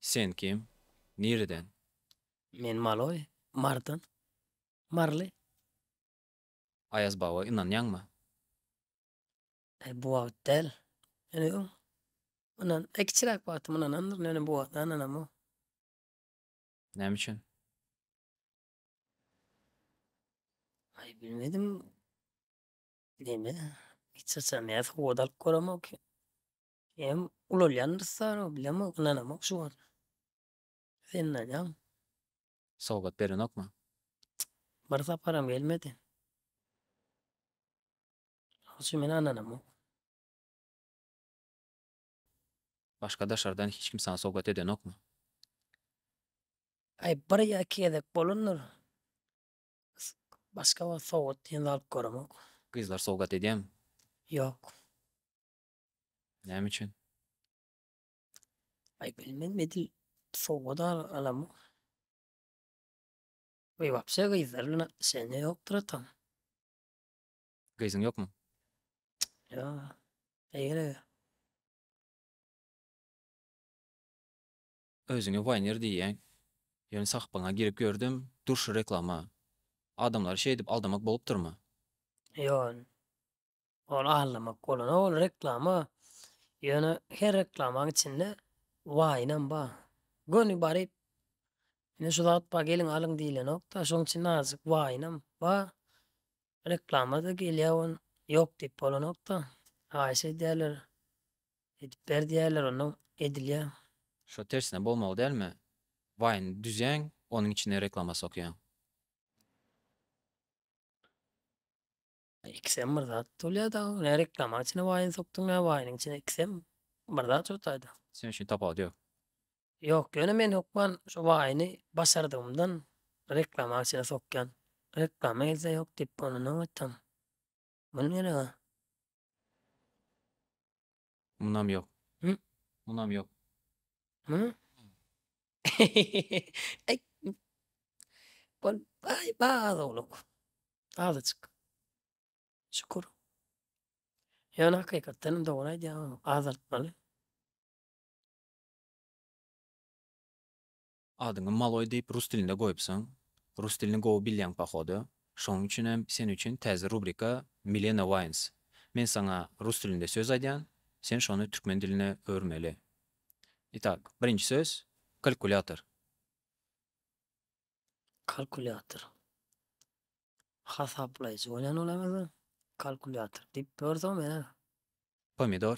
Sen kim? Nireden? Men maloý, Marydan. Maryly. Aýaz baba ynanýaňmy? Aý bu wagt däl. Ýöne öň mundan aý kiçiräk wagtym ynanandyryn ýöne bu wagt ynanamok. Näme üçin? Aý bilmedim. Neme hiç haçan ýa sowgat alyp göremok. Ýa-da ulalýandyr sara bilemok ynanamok şu wagt. Sen ynanýaňmy? sowgat berenokmy? Bir saparam gelmedi. Şoň üçin men ananamok. Başga daşardan hiç kim saňa sowgat edenokmy? Aý, bir ýa iki gezek bolandyr. Başga wagt sowgat diýen alyp göremok. Gyzlar sowgat edýärmi? Ýok. Näme üçin? Aý bilmezmi edil sowgat alamok. We wapşe gyzlar bilen atnyşeniýa ýokdur atam. Gyzyň ýokmy? Ýok. Ne geregi? Özüňe waýner diýýäň. Ýöne sahypaňa girip gördüm, durşy reklama. Adamlary şeýdip aldamak bolupdyrmy? Ýok. Ony aldamak bolana ol reklama ýöne her reklamaň içinde waýynam bar. Göni baryp ine şu zat bar geliň alyň diýlenokda şoň üçin azajyk waýynam bar. Reklamada gelýä on ýok diýip bolanokda haýyş edýäler edip ber diýýäler onda edilýä. Şo tersine bolmaly dälmi waýyn düzýäň onuň içine reklama sokýaň. Ikisem bir zat bolýa da ne reklama içine waýyny sokdyň ne waýynyň içine ikisem bir zat şu taýda. Sen üçin tapawut ýok. Ýok ýöne men hökman şu waýyny başardygymdan reklama içine sokýan. Reklama gelse ýok diýip onda nobatdaň. Muny gerek-a. Munam ýok. Hü? Munam ýok. Hü? Aý. Bol, aý, baz ogluk. Azajyk. Şükür. Ýöne hakykatdan hem dogry aýdýaň, azaltmaly. Adyňy maloý diýip rus dilinde goýupsyň. Rus dilini gowy bilýäň pohodu. Şonuň üçin hem sen üçin täze rubrika Milena Wines. Men saňa rus dilinde söz aýdýan, sen şony türkmen diline öwürmeli. Itak, birinji söz, kalkulýator. Kalkulýator. Hasaplaýjy bolýan ol ewazy. Kalkulýator diýip ýörsoň menä. Pomidor.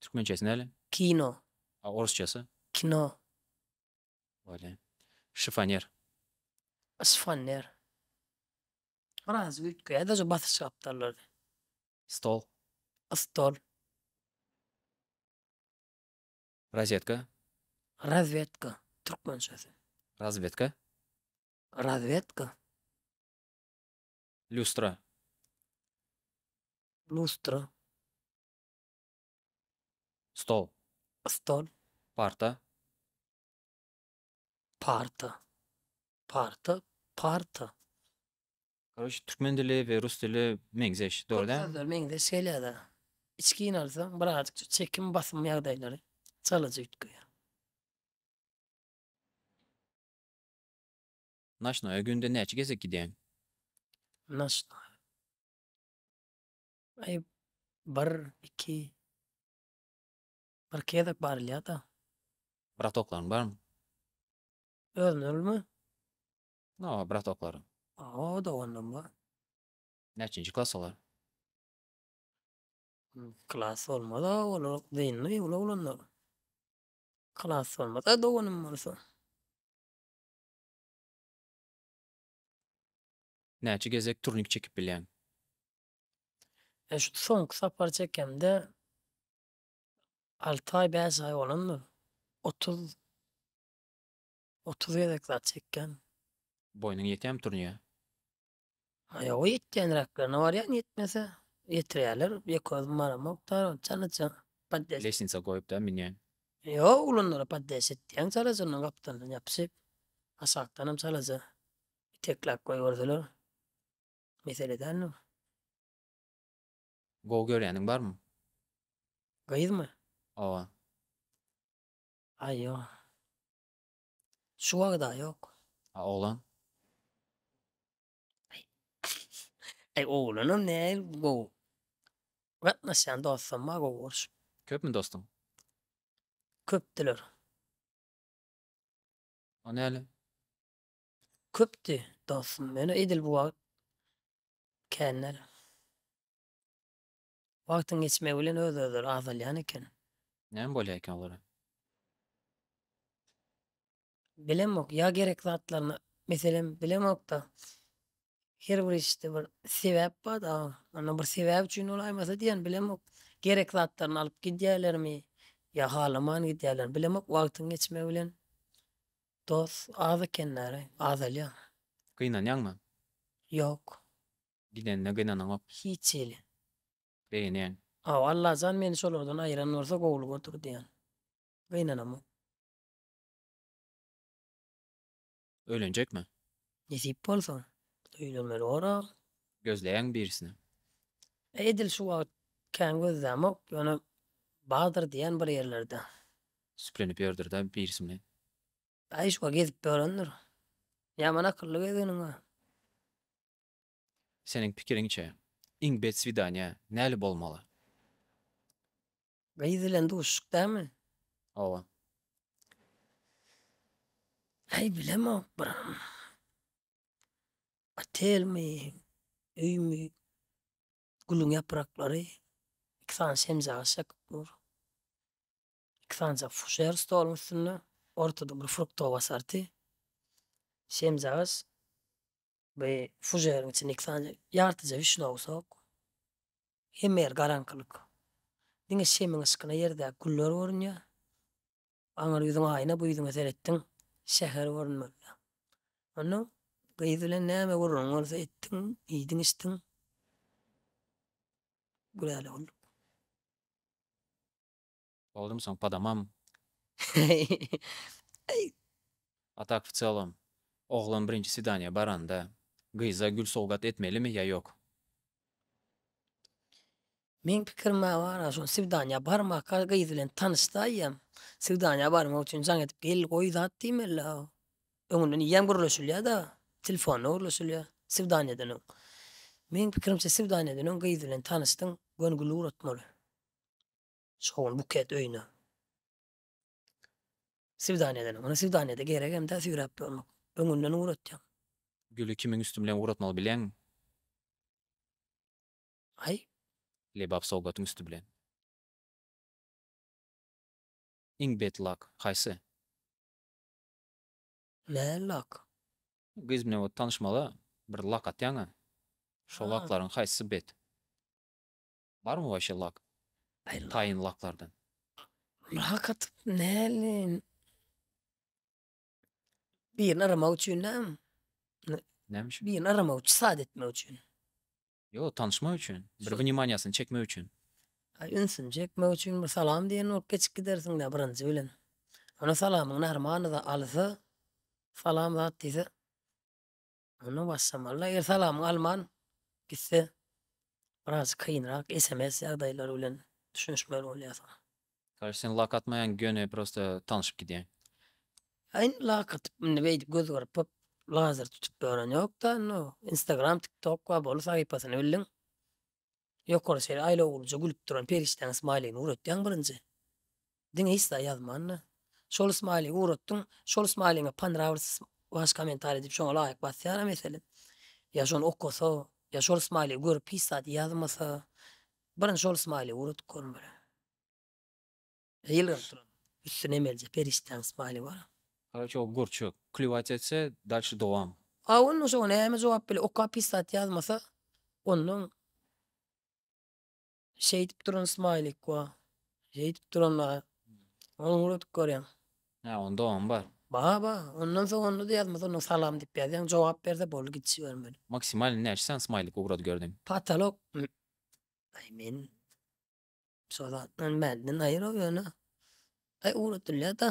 Türkmençesi näle? Kino. A orsçasy? Kino. Bolýa. Şifoner. Şifoner. Biraz üýtgeýär-de şu basyş gapdallary. Stol. Stol. Rozetka. Razwetka. Türkmençesi. Razwetka. Razwetka. Lýustra. Lýustra. Stol. Stol. Parta. Parta. Parta. Parta. Koroç türkmen dili we rus dili meňzeş, dogry däl? Sözler meňzeş gelýär-de. Içgin alsaň birazajyk çekim basym ýagdaýlary çalyjy üýtgeýär. Naşnoýa günde näçe gezek gidýäň? Naşnoýa. Aý bir iki bir gezek barylýada. Bratoklaryň barmy? Özlermi? Hawa bratoklaryň. Hawa doganlarym bar. Näçinji klas olar? Klas bolmada olar dynly uly oglanlar. Klas bolmada doganym bolsa. Näçe gezek turnik çekip bilýäň? E, şu soňky sapar çekemde alty aý, bäş aý bolandyr. Otuz, otuz gezek zat çekýän. Boýnuň ýetýärmi turniýe? Ha, ýoga ýetýänräklerine barýan, ýetmese, ýetirýärler. Ýeke özüm baramok, tarap çalaja podýaş. Leşnitsa goýup-da münýän. Ýok, ulanlara podýaş etýän, çalaja ondan gapdalyndan ýapyşyp, aşakdanam çalaja itekläp goýberseler. Mesele däl nu. Gowy görýäniň barmy? Gyzmy? Owa. Aý ýo. Şu wagda ýok. A oglan? Aý oglanam näl gowy. Gatnaşýan dostam bar gowy görşüp. Köpmi dostuň? Köpdüler. O näle? köpdi dostum men edil bu wagt känler wagtyň geçmegi bilen öz özleri azalýan eken. Näme bolýar eken olara? Bilemok ýa gerek zatlaryna meselem bilemokda Her bir işde bir sebäp bar da, onda bir sebäp üçin bolaýmasa diýen bilemok. Gerek zatlaryny alyp gidýälermi ýa halaman gidýälermi bilemok, wagtyň geçmegi bilen dost az ekenler-ä, azalýar. Gynanýaňmy? Ýok. Gidenine gynanaňok. Hiç hili. Begenýäň. Hawa, Allajan meni şolardan aýyran bolsa gowulyk oturdy ýaly. Gynanamok. Öýlenjekmi? Nesip bolsa, öýlenmeli bolar. Gözleýäňmi birisini? Edil şu wagt kän gözlämok, ýöne bardyr diýýän bir ýerlerde. Süplenip ýördür-dä birisi bilen. Aýşwa gezip ýörendir. Ýaman akylly gezginiň bar. Seniň pikiriňçe, iň bet swidaniýa näli bolmaly? Gyz bilen duşuşyk dälmi? Hawa. Aý bilemok bir otelmi, öými, gülüň ýapraklary, iki sany şemjaga çekyp dur. Iki sanjak fujer stoluň üstünde, ortada bir fruktowa asarty, şemjagaç, Bu fujeriň içinde iki sany ýartyja wişnewsok. Hemme ýer garaňkylyk. Diňe şemiň yşkyna ýerdäki güller görünýär. Aňyr ýüzüň aýna, bu ýüzüňe seretdiň, şäher görünmelidir. Onda gyz bilen näme gürrüňiň bolsa etdiň, iýdiň-içdiň. Gülälek olduk. Baldym sen padamam. A tak w celom, oglan birinji swidaniýa baranda, gyza gül sowgat etmelimi ýa ýok? Meň pikirime gara, şol swidaniýa barmaka gyz bilen tanyşsaýam, swidaniýa barmak üçin jaň edip gel goý zat diýmeli-ä. Öňünden ýem gürleşilýä-da, telefonda gürleşilýä swidaniýadan öň. Meň pikirimçe swidaniýadan öň gyz bilen tanyşdyň, göni gül ugratmaly. Şogun buket öýüne swidaniýa edeniň. Ony swidaniýada gerek hem-de süýräp ýörmek. Öňünden ugratýaň. Güli kimiň üsti bilen ugratmagy bileňmi? Aý. Lebap sowgatyň üsti bilen. Iň bet lak, haýsy? Nä lak? Gyz bilen ot tanyşmaga bir lak atýaň-a. Şo laklaryň haýsysy bet? Barmy waşe lak taýyn laklardan. Lak atyp näleýin. Birini aramak üçin dämi. Näme üçin? Birini aramak üçin sad etmek üçin. Ýok tanyşmak üçin. Bir wynimaniýasyny çekmek üçin. Aý ünsüni çekmek üçin bir salam diýen bolup geçip gidersiň dä birinji bilen. Ony salamyň närmanyda alsa salam zat diýse. Onda başlamalyda el salamyňy alman gitse biraz kynrak sms ýagdaýlary bilen düşünişmeli bolýarsyň. Kardeş sen lak atmaýaň göni prosta tanyşyp gidýäň. Ýa indi lak atyp indi beýdip göz gyrpyp lazer tutup ýören ýokda indi o instagram tiktok wa bolu sahypasyny bildiň. Ýokary şeýle aýlawlyja gülüp duran perişdäň smaýligini ugratýaň birinji. Diňe isla ýazman-da. Şol smaýligi ugratdyň, şol smaýligiňe Panravlsys Waş komentariý diýip şoňa laýyk basýar-a meselem. Ýa şony okasa, ýa şol smaýligi görüp hiç zat ýazmasa. Birinji şol smaýligi ugradyp görmeli. Ýylgyryp duran üstüne emelje perişdäň smile bar. Karaçok gurçuk. Kliwat etse dalşy dowam. A onda şoňa näme jogap bile okap pisat ýazmasa ondan şeýdip duran smaýlik wa şeýdip duran wa ony ugradyp görýäň. Hä on dowam bar. Bar bar ondan soň onda da ýazmasa onda salam diýip ýazýaň jogap berse boldy git jibermeli. Maksimalny näçe san smaýlik ugradyp gördiň. Patolok aý men Şo zat men bärden aýyraw ýöne. Aý ugradylýada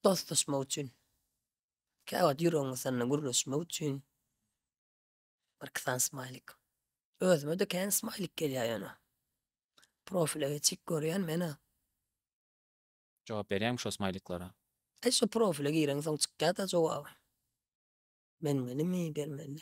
dostlaşmak üçin. Käwagt ýüregiňi sanda gürleşmek üçin. Bir iki sany smaýlik. Özüme-de kän smaýlik gelýä ýöne. Profile geçip görýän menä. Jogap berýäňmi şo smaýliklara? Aý şo profile gireňsoň çykýada jogaby. Bermelimi, bermelimi?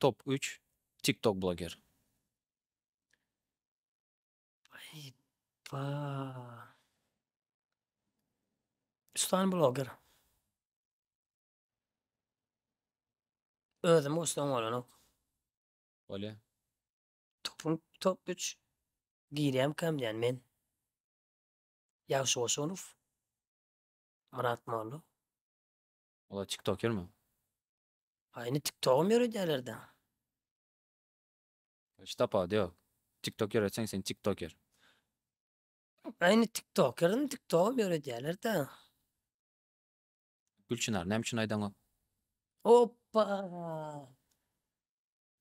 Top üç TikTok bloger. Üç sany bloger. Özüm bolsa oňalanok. Bolýa. Topuň top üç girýämkäm diýýän men. Ýagşy Goşunow. Myrat Molla. Olar tiktoker mi? Ha indi tiktogam ýöredýärler da. Hiç tapawudy ýok. Tiktok ýöretseň sen tiktoker. Ha indi tiktoker indi tiktogam ýöredýärler da. Gülçynar näme üçin aýdaňok? Oppa!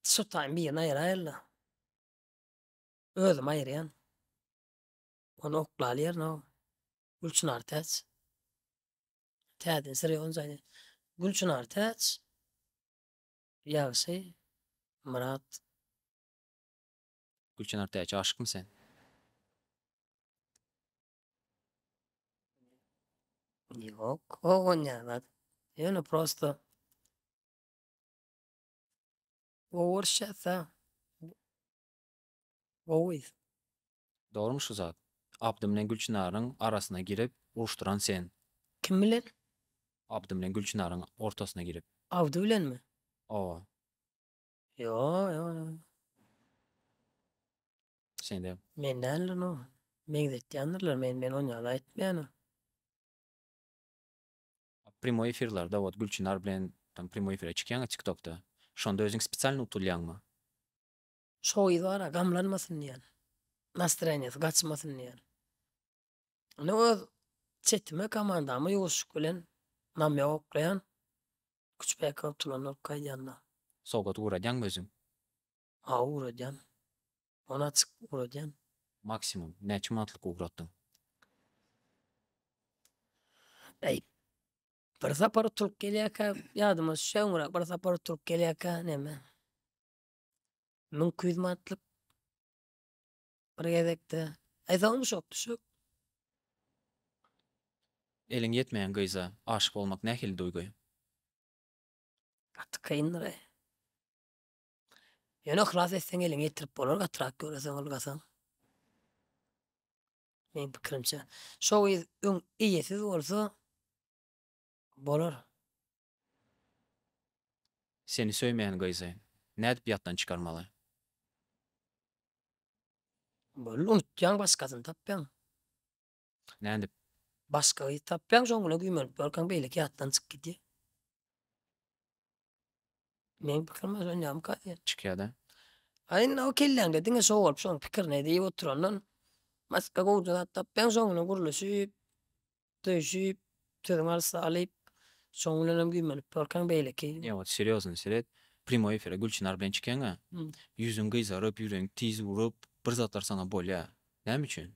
Şu taýmy birini aýyraýyl-la. Özüm aýyrýan. Ony oklaly ýerine goý. Gülçynar täç. Täze Sri Onjany Gülçynar Täç Ýagşy Myrat. Gülçynar Täç aşykmy sen? Ýok owan ýaly zat. Ýöne prosto Orsça sa. Gowy. Dogrymy şu zat? Abdy bilen Gülçynaryň arasyna girip uruşdyran sen. Kim bilen? Abdy bilen Gülçynaryň ortasyna girip. Abdy bilenmi? Owa. Ýok ýok ýok. Sen däl. Men däldir no. Meňzetýändirler men men on ýaly aýtmaýan. Primoý efirlarda ot Gülçynar bilen tam primoý efire çykýaňa tiktokda. Şonda özüň spesialny utulýaňmy? Şo gyz bara gamlanmasyn diýýän. Nastreniýasy gaçmasyn diýýän. Indi öz çetime komandama ýuwaşlyk bilen namýak oklaýan. Küçbäki bolup turan bolup gaýdýanda. Sowgat ugradýaňmy özüň? Hawa ugradýan. Ony açyk ugradýan. Maksimum näçe manatlyk ugratdyň? Bäý. Bir sapar utulyp gelýärkä ýadyma düşýär öňräk bir sapar utulyp gelýärkä näme. Müň iki ýüz manatlyk bir gezekde. Aýsaňmy şok düşek? Eliň ýetmeýän gyza aşyk bolmak nähili duýgy? Gaty kyndyr-eý. Ýöne yhlas etseň eliňe ýetirip bolar gatyrak ýöreseň ylgasaň. Meň pikirimçe. Şo gyz öň eýesiz bolsa. Bolar. Seni söýmeýän gyzy nädip ýatdan çykarmaly? Boldy unutýaň başgasyny tapýaň. Nädip? Başga gyz tapýaň şoň bilen güýmenip ýörkäň beýleki ýatdan çykyp gidýär. Meň pikirim özüňňämyka diýen. Çykýada. A indi o kelläňde diňe şo bolup şoň pikirini edip oturandan başga gowja zat tapýaň şoň bilen gürleşip, söýşip, sözüň arasy alyp şoň bilenem güýmenip durkaň beýleki. Ýok ot serýozny seret primoý efire Gülçynar bilen çykýaňa ýüzüň gyzaryp ýüregiň tiz urup bir zatlar saňa bolýa näme üçin?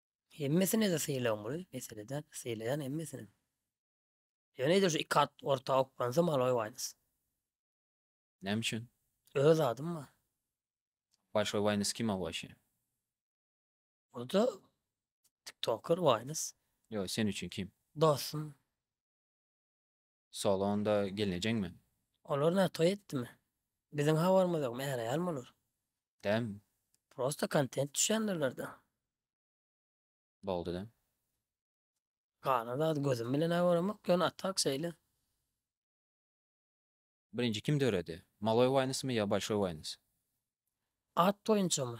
Hemmesine-de sylagyň bolup, meselede sylaýan hemmesine. Ýöne ýa-da şu iki at orta oklansam aloý waýnys. Näme üçin? Öz adym bar. Başga waýnys kim awaşýa? O-da tiktoker waýnys. Ýok, sen üçin kim? Dostum. Sol onda gelnejeňmi? Olar nä toý etdimi? Biziň habarymyz ýok, märeýärmi olar? Däm. Prosta kontent düşýändirler-dä. Boldy-da. Galan zady gözüm bilen-ä göremok, ýöne a tak şeýle. Birinji kim döredi? Maloý waýnysmy ýa bolşoý waýnys? At boýunçamy?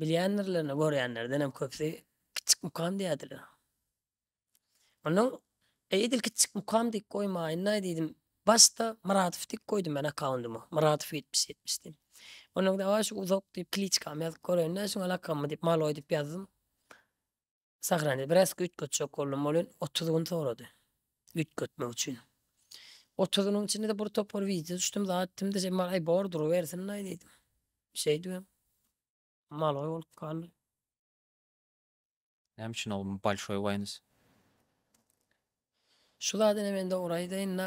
Bilýändirlerine görýänlerdenem köpüsi Kiçjik mukam diýýärdiler. Onnoň Eý edil Kiçjik mukam diýip goýmaýynlaý diýdim. Başda Myradow diýip goýdum men akkaundyma. Myradow ýetmiş ýetmiş diýip. Onnoň dawaý şu uzak diýip kliçkamy ýazyp göreliň-dä şuňa lakammy diýip Maloý diýip ýazdym. Sagrandy. Biraz üýtgetjek boldum. Ol ön otuz gün sorady. Üýtgetmek üçin. Otuz günüň içinde-de bir topar wideo düşdüm, zat etdim-de, sen bar, aý, bor, durubersin-aý diýdim. Şeýdibem, maloý bolup galdy. Näme üçin ol bolşoý waýns? Şu zady ine men dogry aýdaýyn-da,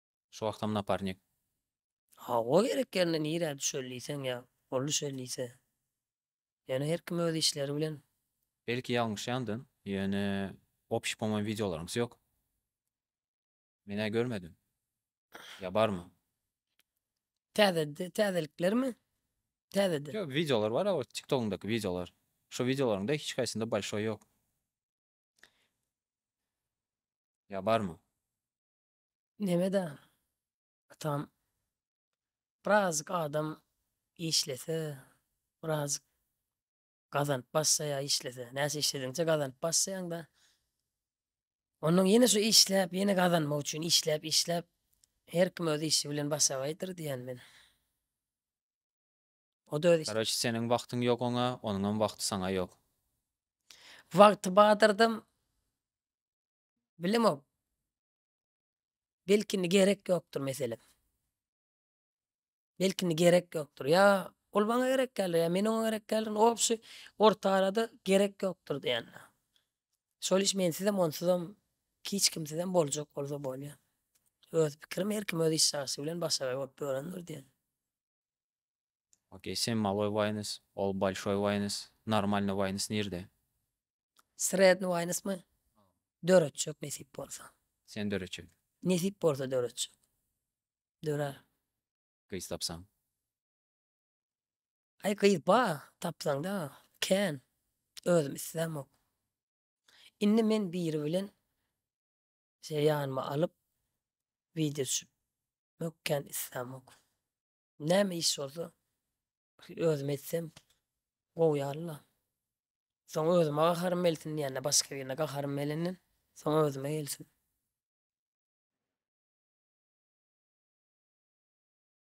Şu wagtam naparnik. Hawa gerek ýerinde nirä düşer diýseň ýa ol düşer diýse. Ýöne her kim öz işleri bilen. Belki ýalňyşýandym, ýöne opşi pomoým wideolaryňyz ýok. Menä görmedim. Ýa barmy? Täze täzeliklermi? Täzede. Ýok, wideolar bar o tiktogyňdaky wideolar. Şo wideolaryňda hiç haýsynda bolşoý ýok. Ýa barmy? Nemeda atam birazik adam işlese birazik gazanyp başlaýa işlese näçe işlediňçe gazanyp başlaýaňda onnoň ýene şu işläp ýene gazanmak üçin işläp işläp her kim öz işi bilen başagaýdyr diýän men o da öz işi Garoç seniň wagtyň ýok oňa onuňam wagty saňa ýok. Wagty badardam Bilemok. Belki indi gerek ýokdur meselem. Belki indi gerek ýokdur. Ýa ol maňa gerek däldir, ýa men oňa gerek däldirin. Obşi orta arada gerek ýokdur diýen. Şol iş mensizem, onsuzam, hiç kimsizem boljak bolsa bolýar. Öz pikirim, her kim öz işjagşy bilen başagaý bolup ýörendir diýen. Okey sen maloý waýnis ol bolşoý waýnis normalny waýnis nirde. Sredny waýnismi? Döretjek nesip bolsa. Sen döretjek. Nesip bolsa döretjek. Dörer. Gyz tapsaň. Aý gyz ba tapsaňda kän özüm islämok. Indi men biri bilen Size ýanyma alyp wideo düşüp mökän islämok. Näme iş bolsa bir özüm etsem gowy ýalyla. Soň özüme gaharym gelsin diýende başga birine gaharym gelenden soň özüme gelsin.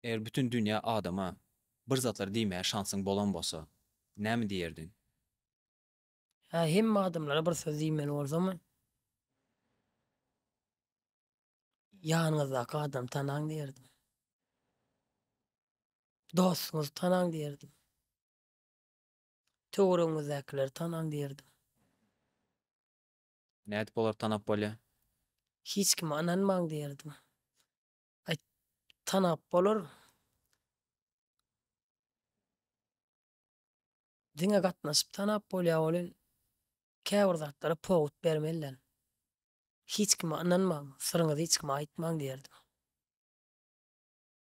Eger bütin dünýä adama bir zatlar diýmäge şansyň bolan bolsa, näme diýerdiň? Hä hemme adamlara bir söz diýmeli bolsam Ýanyňyzdaky adamy tanaň diýerdim. Dostuňyzy tanaň diýerdim. Töweregiňizdäkileri tanaň diýerdim. Nädip olary tanap bolýar? Hiç kime ynanmaň diýerdim. Aý tanap bolar. Diňe gatnaşyp tanap bolýar welin käbir zatlara pogut bermeliler. Hiç kime ynanmaň, syryňyzy hiç kime aýtmaň diýerdim.